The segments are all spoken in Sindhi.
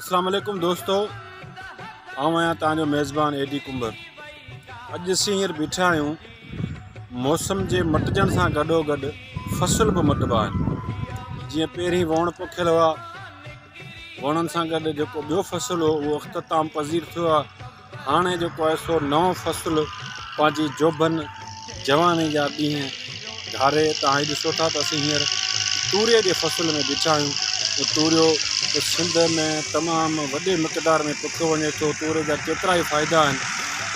اسلام عليڪم دوستو آئون آهيان تان جو ميزبان اي ڊي ڪمبر اڄ اسين هينئر بيٺا آهيون موسم جي مٽجڻ سان گڏو گڏ فصل به مٽبا آهن جيئن پهرين ووڻ پوکيل هئا ووڻن سان گڏ جيڪو ٻيو فصل هو اختتام پذير ٿيو هاڻي جيڪو آهي سو نئون فصل پنهنجي جوڀن جواني جا ڏينهن گهاري تان هي ڏسو ٿا ته اسين هينئر توري جي فصل ۾ بيٺا آهيون ته توريو سنڌ ۾ تمام وڏي مقدار ۾ پوکيو وڃي ٿو توري جا ڪيترا ئي فائدا آهن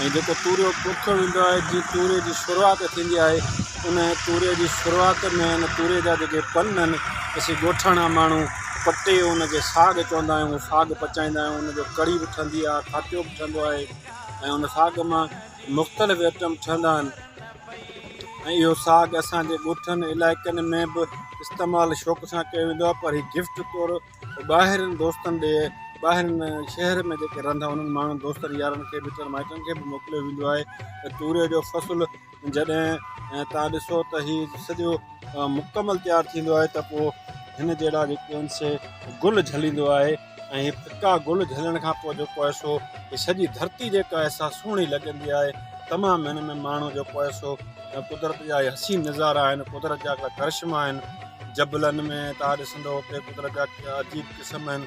۽ جيڪو توريو پوکيو ويندو آهي جي توري جي شروعات ٿيندي آهي ان توري جي شروعات ۾ ان توري جا جيڪي پن آهن اسين ڳوٺاڻا ماڻهو پٽي ان کي ساڳ چوندا آهيون ساڳ پچائيندا آهيون ان جو ڪڙي به ٺهندي آهي کاٽيو به ٺهندو آهي ۽ ان ساڳ مان مختلف آئٽم ٺهندا آهن ۽ اهو ساڳ اسانجي ڳوٺن علائقن ۾ به استعمال شوق سان ڪيو ويندو آهي پر هي گفٽ طور ٻاهرين دوستن ڏي ٻاهرين شهر ۾ جيڪي رهندا انهن ماڻهن دوستن يارن کي مٽن مائٽن کي به موڪليو ويندو آهي ۽ توري جو فصل جڏهن توهان ڏسو ته هي سڄو مڪمل تيار ٿيندو آهي ته پوء هن جهڙا جيڪي آهن سي گل جهليندو آهي ۽ هي ڦڪا گل جهلڻ کان پوء جيڪو آهي سو هي سڄي ڌرتي جيڪا آهي سا سهڻي لڳندي آهي تمام هن ۾ ماڻهو جيڪو آهي سو قدرت جا حسين نظارا آهن قدرت جا ڪرشما آهن جبلن ۾ توهان ڏسندو اتي قدرت جا عجيب قسم آهن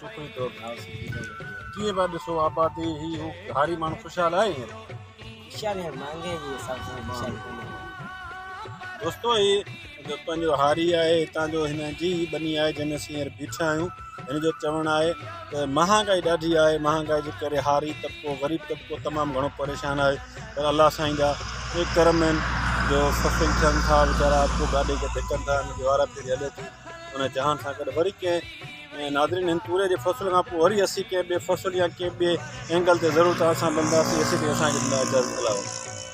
سوکڙي طور گهاء سڪي ڪري وٺي آهي ڪيئن پيا ڏسو آبادي هي هو گهاري ماڻهو خوشحال آهي هينئر خوشحال هينئر مهانگائي جي حساب سان خوشحال ڪونهي دوستو هي جو پنهنجو هاري آهي هتان جو هن جي هي ٻني آهي جنهن ۾ اسين هينئر بيٺا آهيون هن جو چوڻ آهي ته مهانگائي ڏاڍي آهي مهانگائي جي ڪري هاري طبقو غريب طبقو تمام گهڻو پريشان آهي پر الله سائين جا اهي ڪرم آهن جو سفل ٿين ٿا ويچارا اڳو گاڏي کي ڌڪن ٿا هن جي وارا ڦيري هلي ٿي ان جهان سان گڏ وري ڪنهن ناظرين هن توري جي فصل کان پوء وري اسين ڪنهن ٻئي فصل يا ڪنهن ٻئي اينگل تي ضرور توهان سان ملنداسين ايسيتائين اسان کي ڏنا اجازت الاء